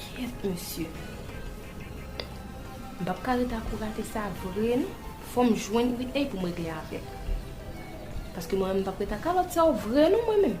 Kyèt mesye. M pap ka ret akou rate sa vre non. Fòm jwenn Whitney pou m regle avèl. Paske mwen menm m pap ret ak kalòt sa yo vre non mwen menm.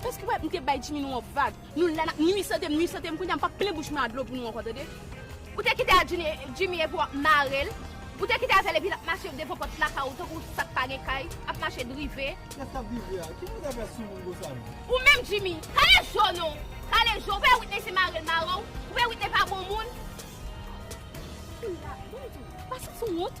Pèske ou pa wè m te bay Jimmy nou yon vag. Nou la n ap nui sante m, nui sante m, kounya m p ap plen bouch mwen a dlo pou nou ankò tande. Ou te kite a Jimmy epi w ap mare l. Ou te kite avè l epi l ap mache devan pòt lakay ou tankou sa k pa gen kay, ap mache drive. Kè s t ap drive a? Ki moun k ap fè soumoun konsa menm? Ou menm Jimmy! Kale je w non! Kale je w! Ou pa wè Witney se mari l mare w? Ou pa wè Witney pa bon moun? Ou la, bon Jimmy, pa santi w wont?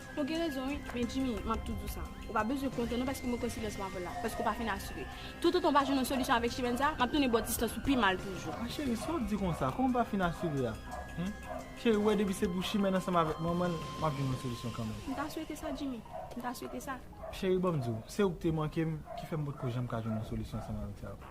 Ou gen rezon wi, men Jimmy, m ap toujou di w sa, ou pa bezwen kontan non paske mwen kwè silans mwen avè w la, paske ou pa fin asire. Toutotan w pa jwenn yon solisyon avèk Chimène sa, m ap tounen ba w distans ou pi mal toujou. A cheri, sa w di konsa, kòman m pa fin asire a? Hum! Cheri, ou wè depi se pou Chimène ansanm avèk manman l, m ap jwenn yon solisyon kanmenm. M ta swete sa Jimmy, m ta swete sa. Cheri, ban m di w, se ou ki te manke m, ki fè m potko janm ka jwenn yon solisyon ansanm avèk sa yo.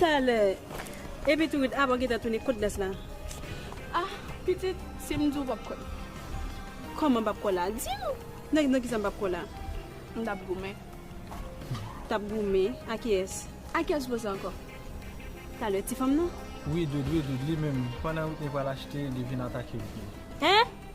Talè. Epi tou rit Aba gentan tounen kot Blas la. Ah pitit si m di w pap kwè m. Kòman pap kwè w la? Di m nan kisa m pap kwè w la? M tap goumen. Tap goumen? A kiyès? A kiyès koze ankò? Talè ti fanm nan? Wi Doudou e Doudou li menm pandan Witney pral achte li vin atake Witney. Hein?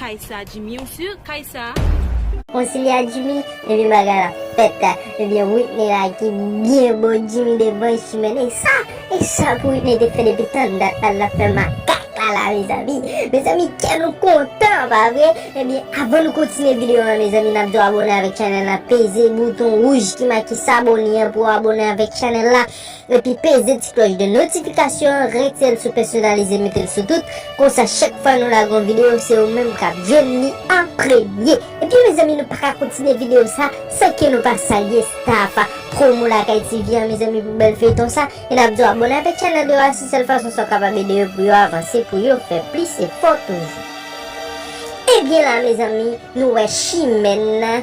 Kay sa Jimmy ou sur kay sa. Konsilye a Jimmy epi bagay la fèt ebyen Whitney la ki byen bo Jimmy devan e simen e sa e sa pou Whitney te fè depi tann dat la lap fè makak la la mezanmi mezanmi kè nou kontan pa vre ebyen avan nou kontinye videyo an mezanmi nap di w abòne avèk chanèl la peze bouton wouj ki make sabone an pou w abòne avèk chanèl la. epi peze ti klòch de notifikasyon an retirel sou pèsonalize metel sou tout konsa chak fwa nou lage yon video se ou menm kap jwenn li an premye ebyen mezanmi nou paka kontinye video sa san ke nou pa salye staff promo lakay TV an mezanmi pou bèl feyton sa e nap diw abone avèk channel yo a se sèl fason sa kapab ede yo pou yo avanse pou yo fè plis efò toujou. Ebyen la mezanmi nou wè chimè nan.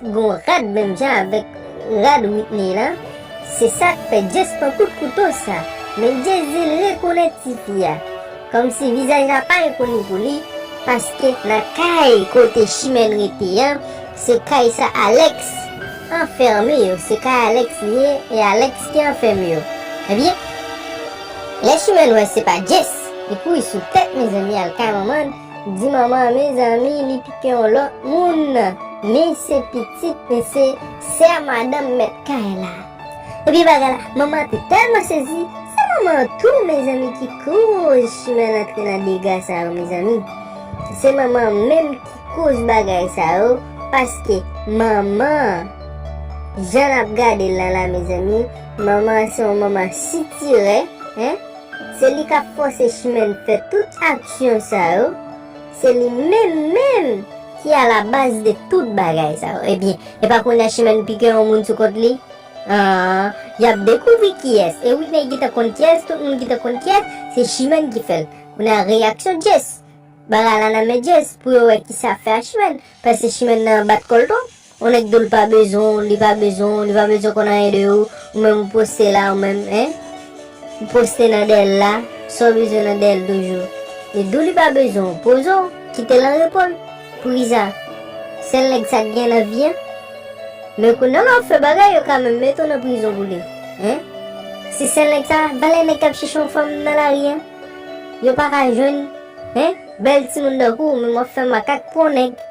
Gon rad menm jan avèk rad Whitney lan se sak fè Jess pran kout kouto sa men Jess dil rekonèt tifi a kòmsi vizaj la pa enkoni pou li paske nan kay kote Chimène rete an se kay sa Alex anfème yo se kay Alex li ye e Alex ki anfème yo ebyen lè Chimène wè se pa Jess li kouri sou tèt mezanmi al kay manman l. Di manman an mezanmi li pike yon lòt moun men se pitit men se sè madanm mèt kay la. Ebyen bagay la manman an te tèlman sezi se manman an tou mezanmi ki koz chimèl antre nan dega sa yo mezanmi se manman an menm ki koz bagay sa yo paske manman an jan nap gadel lan la mezanmi manman an se yon manman sitirè hein. Se li kap fòse Chimène fè tout aksyon sa yo, se li menm menm ki a la baz de tout bagay sa yo. Ebyen, e pa kounye a Chimène pi gen yon moun sou kont li? Aah, yap dekouvri kiyès. E Witney gentan konn kiyès, tout moun gentan konn kiyès, se Chimène ki fèl. Kounye a reyaksyon Jess. Bagay la nan men Jess pou yo wè kisa fè a Chimène, paske Chimène nan bat kòl twòp. On nèg doul pa bezwen w li pa bezwen w li pa bezwen konn anyen de ou ou menm ou poste la ou menm hein ou poste nan dèyèl la sa w bezwen nan dèyèl toujou li dou li pa bezwen w poze w kitel an repo l poukisa sèl nèg sa k gen nan vi an men kounya lè wap fè bagay yo ka menm mete w nan prizon pou li hein si sèl nèg sa valè nèg kap chèche yon fanm nan lari an yo paka jwenn. Hein bèl timoun nan kou ou menm wap fè makak pou yon nèg.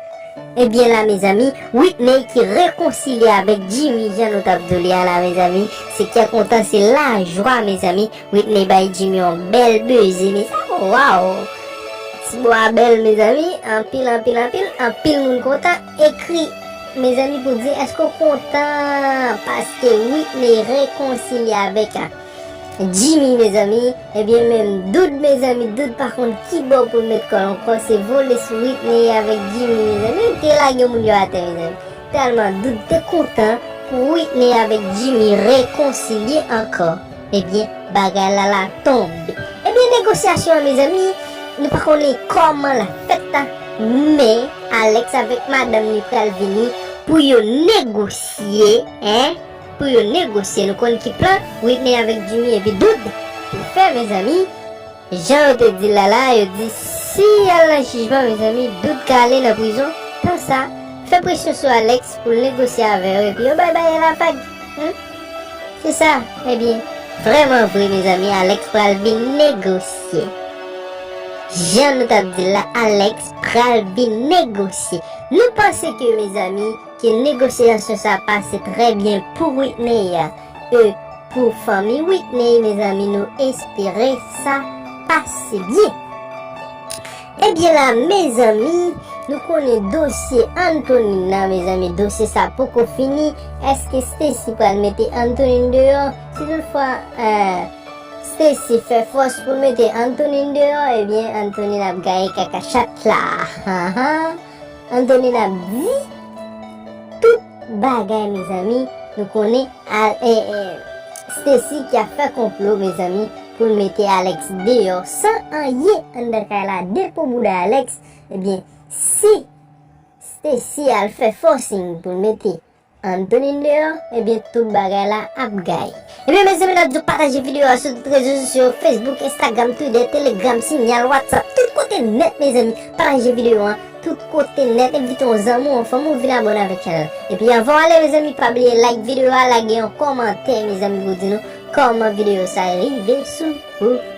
Ebyen la mezanmi Whitney ki rekonsilye avèk Jimmy jan nou tap do li a la mezanmi se kè kontan se lajwa mezanmi Whitney bay Jimmy yon bèl beze mezanmi waww ti bo a bèl mezanmi anpil anpil anpil anpil moun kontan ekri mezanmi pou di èske ou kontan paske Whitney rekonsilye avèk Jimmy mezanmi ebyen menm dood mezanmi dood pa konn kibò poul met kòl ankò se vole sou Witney avèk Jimmy mezanmi yo te lage moun yo atè mezanmi tèlman dood te kontan pou Witney avèk Jimmy rekonsilye ankò ebyen bagay la la tonbe ebyen negosyasyon an mezanmi nou pa konnen kòman lap fèt la men Alex avèk madanm li pral vini pou yo negosye hein. Pou yo negosye nou konn ki plan Whitney avèk Jimmy epi Dood te fè mezanmi jan yo te dil la la yo di si yal nan jijman mezanmi Dood ka ale nan prizon tan sa fè presyon sou Alex poul negosye avè yo epi yo bay bayè la vag humm se sa ebyen. Vrèman vre mezanmi Alex pral vin negosye jan nou tap dil la Alex pral vin negosye nou panse ke mezanmi. Ke negosyasyon sa pase trè byen pou Whitney e pou fanmi Whitney mezanmi nou espere sa pase byen. Ebyen la mezanmi nou konnen dosye Antonin nan mezanmi dosye sa poko fini eske Stacy pral mete Antonin deyò si tout fwa Stacy fè fòs pou mete Antonin deyò ebyen Antonin ap gaye kaka chat la. An done nap di tout bagay mezanmi nou konnen al Stacy ki ap fè konplo mezanmi poul mete Alex deyò san anyen anndan kay la depo bouda Alex ebyen si Stacy al fè forcing poul mete Ann tounin deyò ebyen tout bagay la ap gay. Ebyen mezanmi nap diw pataje video a sou tout rezo sosyo yo Facebook Instagram Twitter Telegram Signal WhatsApp tout kote nèt mezanmi pataje video an tout kote nèt envite yon zanmi w yon fanmi w vin abone avèk chanèl la epi anvan w ale mezanmi pa bliye like video a lage yon kòmantè mezanmi pou di nou kòman video sa rive sou ou.